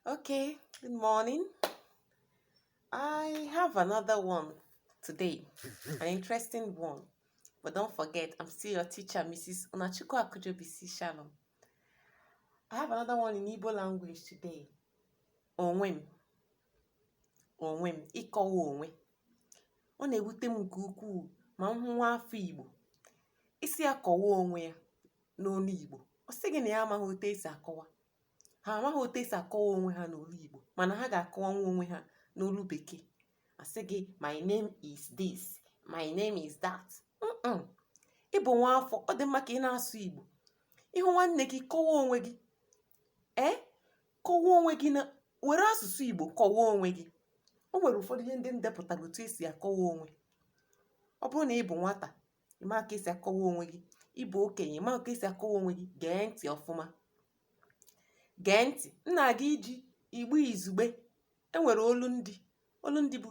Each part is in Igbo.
Okay, good morning. I have another one today, an interesting one. But don't forget, I'm still your teacher, Mrs. Unachukwu Akujobi C. Shalom. I have another one in Igbo language today. Onwe m. Onwe m. Ịkọwa onwe. Ọ na-ewute m nke ukwuu ma m hụ nwa afọ Igbo. Ị sị ya kọwaa onwe ya n'olu Igbo. Ọ sị gị na ya amaghị otu e si akọwa. ha amaghị otu e si akọwa onwe ha n'olu Igbo mana ha ga-akọwanwu onwe ha n'olu bekee a sị gị my name is this my name is that ị bụ nwa afọ ọ dị mma ka ị na-asụ Igbo ị hụ nwanne gị kọwa onwe gị ee kọwa onwe gị na were asụsụ Igbo kọwa onwe gị o nwere ụfọdụ ihe ndị m depụtara otu e si akọwa onwe ọ bụrụ na ị bụ nwata ị ma ka e si akọwa onwe gị ị bụ okenye ị ma ka e si akọwa onwe gị gee ntị ọfụma gee ntị m na-aga iji Igbo izugbe e nwere olundị olundị bụ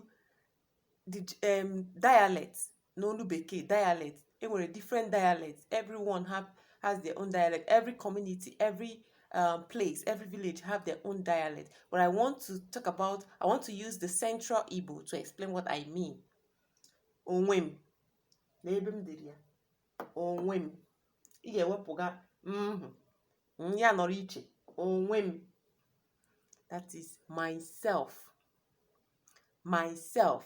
dialect n'olu bekee dialect e nwere different dialect everyone have has their own dialect every community every um, place every village have their own dialect but i want to talk about i want to use the central igbo to explain what i mean onwe m n'ebe m dere ya onwe m ị ga-ewepụga m ahụ ya nọrọ iche onwe m that is myself myself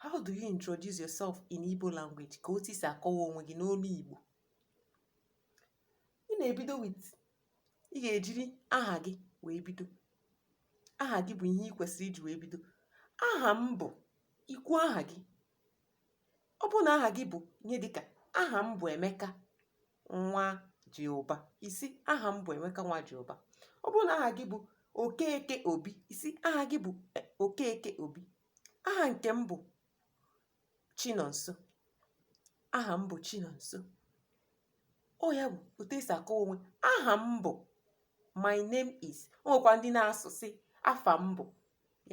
how do you introduce yourself in Igbo language ka otu i si akọwa onwe gị n'olu Igbo ị na-ebido with ị ga-ejiri aha gị wee bido aha gị bụ ihe ị kwesịrị iji wee bido aha m bụ i kwuo aha gị ọ bụrụ na aha gị bụ ihe dịka aha m bụ Emeka Nwajiụba ị sị aha m bụ Emeka Nwajiụba ọ bụrụ na aha gị bụ Okeke Obi ị sị aha gị bụ e, Okeke Obi aha nke m bụ Chinonso aha m bụ Chinonso ọ ya bụ otu e si akọwa onwe aha m bụ my name is o nwekwa ndị na-asụ sị afa m bụ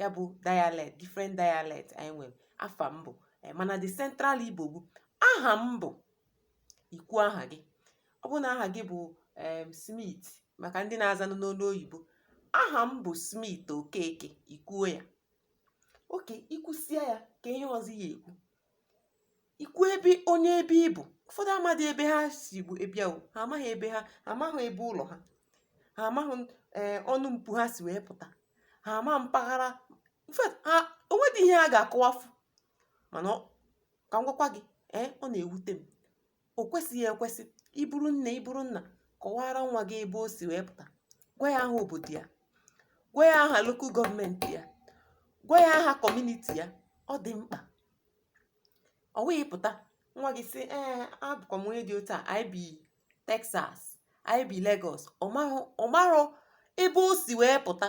ya bụ dialect different dialect anyị nwere afa m bụ eh, mana the central Igbo bụ aha m bụ i kwuo aha gị ọ bụrụ na aha gị bụ em Smith maka ndị na-azanụ n'olu oyibo aha m bụ Smith Okeke i kwuo ya okay i kwusịa ya ka ihe ọzọ ị ya-ekwu i kwuo ebe onye ebe ị bụ ụfọdụ amadị ebe ha si wee bịa o ha amaghị ebe ha amaghị ebe ụlọ ha ha amaghị ee eh, ọnụ mpu ha si wee pụta ha ama mpaghara ha o nwedị ihe ha ga-akọwafu mana ka m gwakwa gị ee eh, ọ na-ewute m O kwesịghị ekwesị ị bụrụ nne ị bụrụ nna kọwaara nwa gị ebe o si wee pụta gwa ya aha obodo ya gwa ya aha lokal gọọmenti ya gwa ya aha kọmuniti ya ọ dị mkpa ọ wụghị pụta nwa gị sị ee abụkwa m onye dị otu a anyị bi Texas anyị bi Lagos ọ marọ ebe o si wee pụta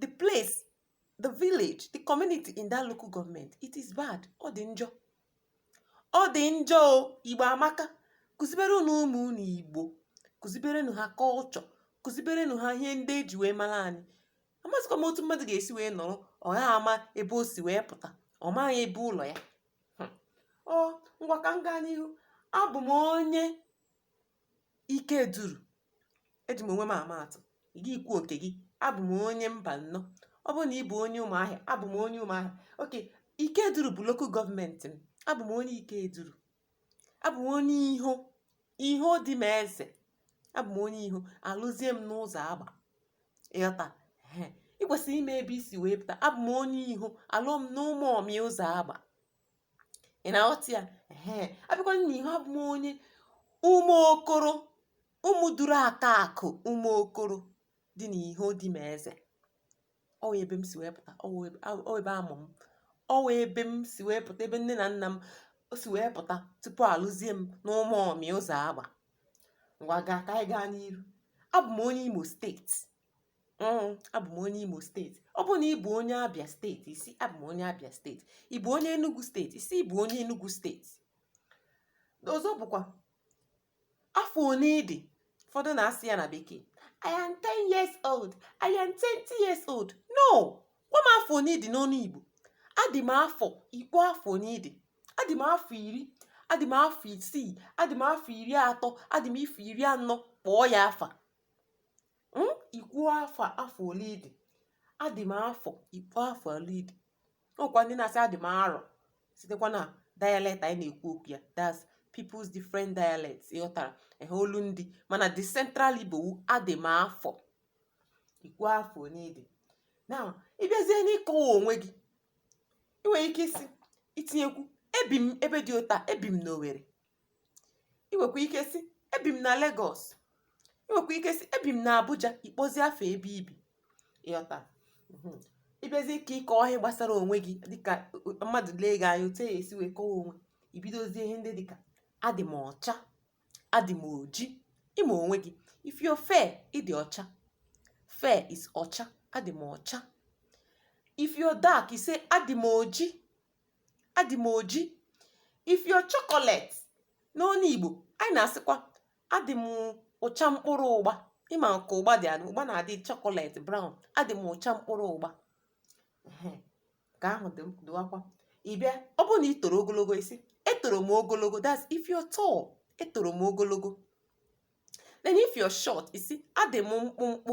the place the village the community in that local government it is bad ọ dị njọ ọ dị njọ o igbo amaka kụziberenụ ụmụ unu igbo kụziberenụ ha culture kụziberenụ ha ihe ndị e ji wee mara anyị amazịkwa m otu mmadụ ga-esi wee nọrọ ọ gaghị ama ebe o si wee pụta ọ maghị ebe ụlọ ya hmm. ọ ngwa ka m gaa n'ihu abụ m onye Ikeduru. Eji m onwe m ama atụ. Gị ị kwuo ke gị. Abụ m onye Mbanọ. Ọ bụrụ na ị bụ onye Ụmụahịa, abụ m onye Ụmụahịa. Okay, Ikeduru bụ lokal gọọmenti m. Abụ m onye Ikeduru. Abụ m onye Iho. Iho Dimeze. Abụ m onye Iho. A lụzie m n'Ụzọagba. Ị ghọta? Ehe. Ị kwesịrị ịma ebe i si wee pụta. Abụ m onye Iho. A lụọ m n'Ụmụọmị Ụzọagba. ị na-aghọta ya ee a bịakwa n'Iho abụ m onye Ụmụokoro Ụmụduru aka akụ Ụmụokoro dị n'Iho Dimeze ọ wụ ebe m si wee pụta ọ wụ ebe a mụ m ọ wụ ebe m si wee pụta ebe nne na nna m si wee pụta tupu a lụzie m n'Ụmụọmị Ụzọagba ngwa gaa ka anyị gaa n'iru abụ m onye Imo steeti Mm, abụ m onye Imo steeti ọ bụrụ na ị bụ onye Abia steeti ị sị abụ m onye Abia steeti ị bụ onye Enugu steeti ị sị ị bụ onye Enugu steeti ọzọ bụkwa afọ one ị dị ụfọdụ na-asị ya na bekee I am 10 years old I am 20 years old no gwa m afọ one ị dị n'ọnụ Igbo adị m afọ ị kpọọ afọ one ị dị adị m afọ iri adị m afọ isii adị m afọ iri atọ adị m afọ iri anọ kpọọ ya afa um ị kwuo afọ afọ ole ị dị adị m afọ ị kwuo afọ ole ị dị o nwekwa ndị na-asị adị m arọ sitekwa na dialect anyị na-ekwu okwu ya that's people's different dialects ị ghọtara ehe olu ndị mana the central Igbo wụ adị m afọ ị kwuo afọ ole ị dị now ị bịazie n'ịkọwa onwe gị ị nwere ike ịsị itinyekwu ebi m ebe dị otu a ebi m n'Owere i nwekwa ike sị ebi m na Lagos i nwekwa ike sị ebi m na Abuja ị kpọzie afa ebe i bi ị ghọta mm-hmm. ị bịazie ka ị kọọ ihe gbasara onwe gị dịkà mmadụ lee gị anya otu e esi wee kọwa onwe i bidozie ihe ndị dịkà adị m ọcha adị m oji ị ma onwe gị if you're fair ị dị ọcha fair is ọcha adị m ọcha if you're dark you say adị m oji adị m oji if you're chocolate n'ọnụ Igbo anyị na-asịkwa adị m ụcha mkpụrụ ụgba ị ma ka ụgba dị adị ụgba na-adị chocolate brown adị m ụcha mkpụrụ ụgba nke ahụ dịwakwa ị bịa ọ bụrụ na ị toro ogologo ị sị etoro m ogologo that's if you're tall etoro m ogologo then if you're short ị sị adị m mkpụmkpụ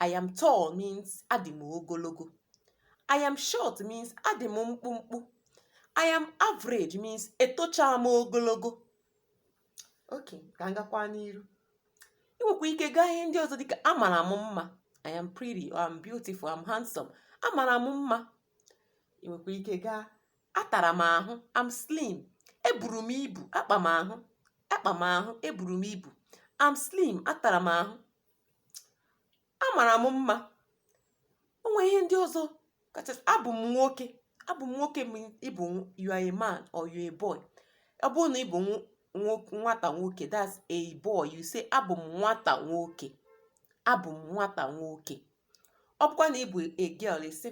I am tall means adị m ogologo. I am short means adị m mkpụmkpụ. I am average means etochaa m ogologo. Ok, ka m gakwa n'iru. I nwekwa ike gaa ihe ndị ọzọ dịka amara m mma. I am pretty or I'm beautiful, I'm handsome. Amara m mma. I nwekwa ike gaa atara m ahụ, I'm slim. Eburu m ibu, akpa m ahụ, akpa m ahụ, eburu m ibu. I'm slim, atara m ahụ. amara m mma o nwee ihe ndị ọzọ kachasị abụ m nwoke abụ m nwoke means ị bụ you are a man or you're a boy ọ bụrụ na ị bụ nwata nwoke that's a boy you say abụ m nwata nwoke abụ m nwata nwoke ọ bụkwa na ị bụ a girl ị sị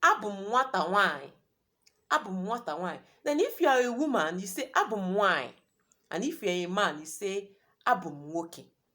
abụ m nwata nwanyị abụ m nwata nwanyị then if you are a woman you say abụ m nwanyị and if you are a man you say abụ m nwoke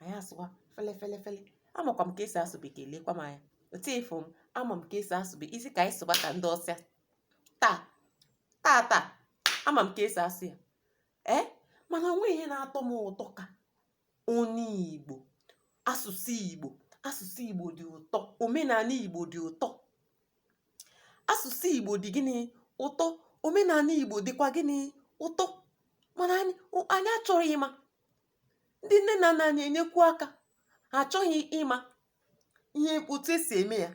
anyị asụwa fele fele fele amakwa m ka esi asụ bekee lekwa m anya otu ị fụ m ama m ka esi asụ bekee ị sị ka anyị sụba ka ndị awụsa taa taa taa ama m ka esi asụ ya ee eh? mana o nwe ihe na-atọ m ụtọ ka onye igbo asụsụ igbo asụsụ igbo dị ụtọ omenala igbo dị ụtọ asụsụ igbo dị gịnị ụtọ omenala igbo dịkwa gịnị ụtọ mana anyị achọghị ịma Ndị nne na nna anyị enyekwu aka. Ha achọghị ịma ihe otu e si eme ya.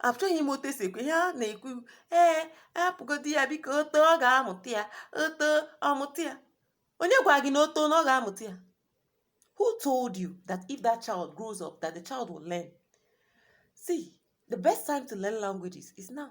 Achọghị ịma otu e si ekwu ihe a na-ekwu ee hapụgodi ya biko o too ọ ga-amụta ya o too ọ mụta ya. Onye gwara gị na o too na ọ ga-amụta ya? Who told you that if that child grows up that the child will learn? See, the best time to learn languages is now.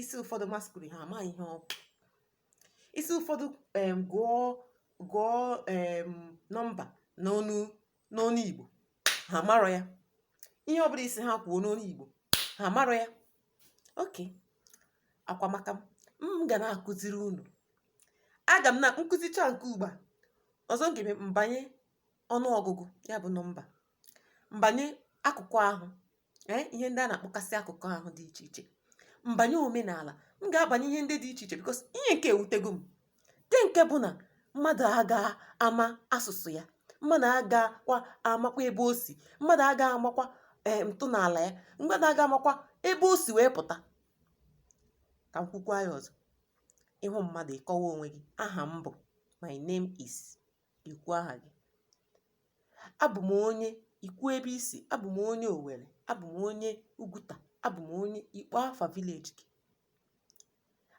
ị sị ụfọdụ masquerade ha amaghị ihe ọ bụ ị sị ụfọdụ em, gụọ gụọ em, nọmba n'ọnụ n'ọnụ igbo ha marọ ya ihe ọbụla ị sị ha kwuo n'ọnụ igbo ha marọ ya okay akwa maka m m ga na-akụziri unu aga m na m kụzichaa nke ugbu a ọzọ m ga-eme m banye ọnụọgụgụ ya bụ nọmba m banye akụkụ ahụ ee eh, ihe ndị a na-akpọkasị akụkọ ahụ dị iche iche m banye omenala m ga-abanye ihe ndị dị iche iche because ihe nke ewutego m nke nke bụ na mmadụ aga ama asụsụ ya mmadụ agakwa amakwa ebe o si mmadụ aga amakwa eh, ntọala ya mmadụ aga amakwa ebe o si wee pụta ka m kwukwaa ya ọzọ ị hụ mmadụ ị kọwaa onwe gị aha m bụ my name is i kwuo aha gị abụ m onye i kwuo ebe i si abụ m onye owere abụ m onye ugwuta abụ m onye ị kpọọ afa village gị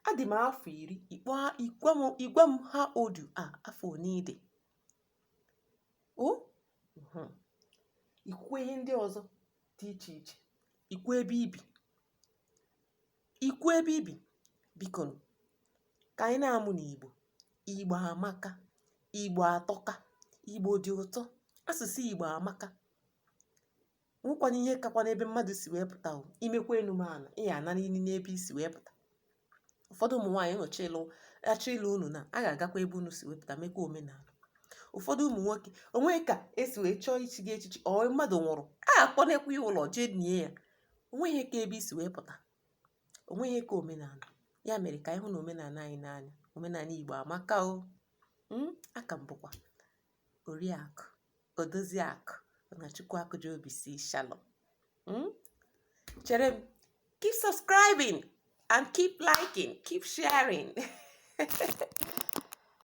adị m afọ iri ị gwa m how old you are afọ one ị dị o mhm. i kwuo ihe ndị ọzọ dị iche iche i kwuo ebe i bi I kwuo ebe i bi bikonụ ka anyị na-amụnụ Igbo. Igbo amaka, Igbo atọka, Igbo dị ụtọ, asụsụ Igbo amaka. O nwekwanụ ihe kakwanụ ebe mmadụ si wee pụta o. I mekwa enu mee ana, ị ya-ananịlị n'ebe i si wee pụta. Ụfọdụ ụmụ nwaanyị a chọọ ịlụ unu na a ga-agakwa ebe unu si wee pụta mekwa omenala. Ụfọdụ ụmụ nwoke o nwee ka e si wee chọọ ichi gị echichi or mmadụ nwụrụ, a a kpọnakwa ya ụlọ jee nie ya. o nweghị ihe ka ebe i si wee pụta o nweghị ihe ka omenala ya mere ka anyị hụ na omenala anyị n'anya omenala igbo amaka o mm, aka m bụkwa oriakụ odoziakụ na chukwu akụji obi si shalom mm? chere m keep subscribing and keep liking keep sharing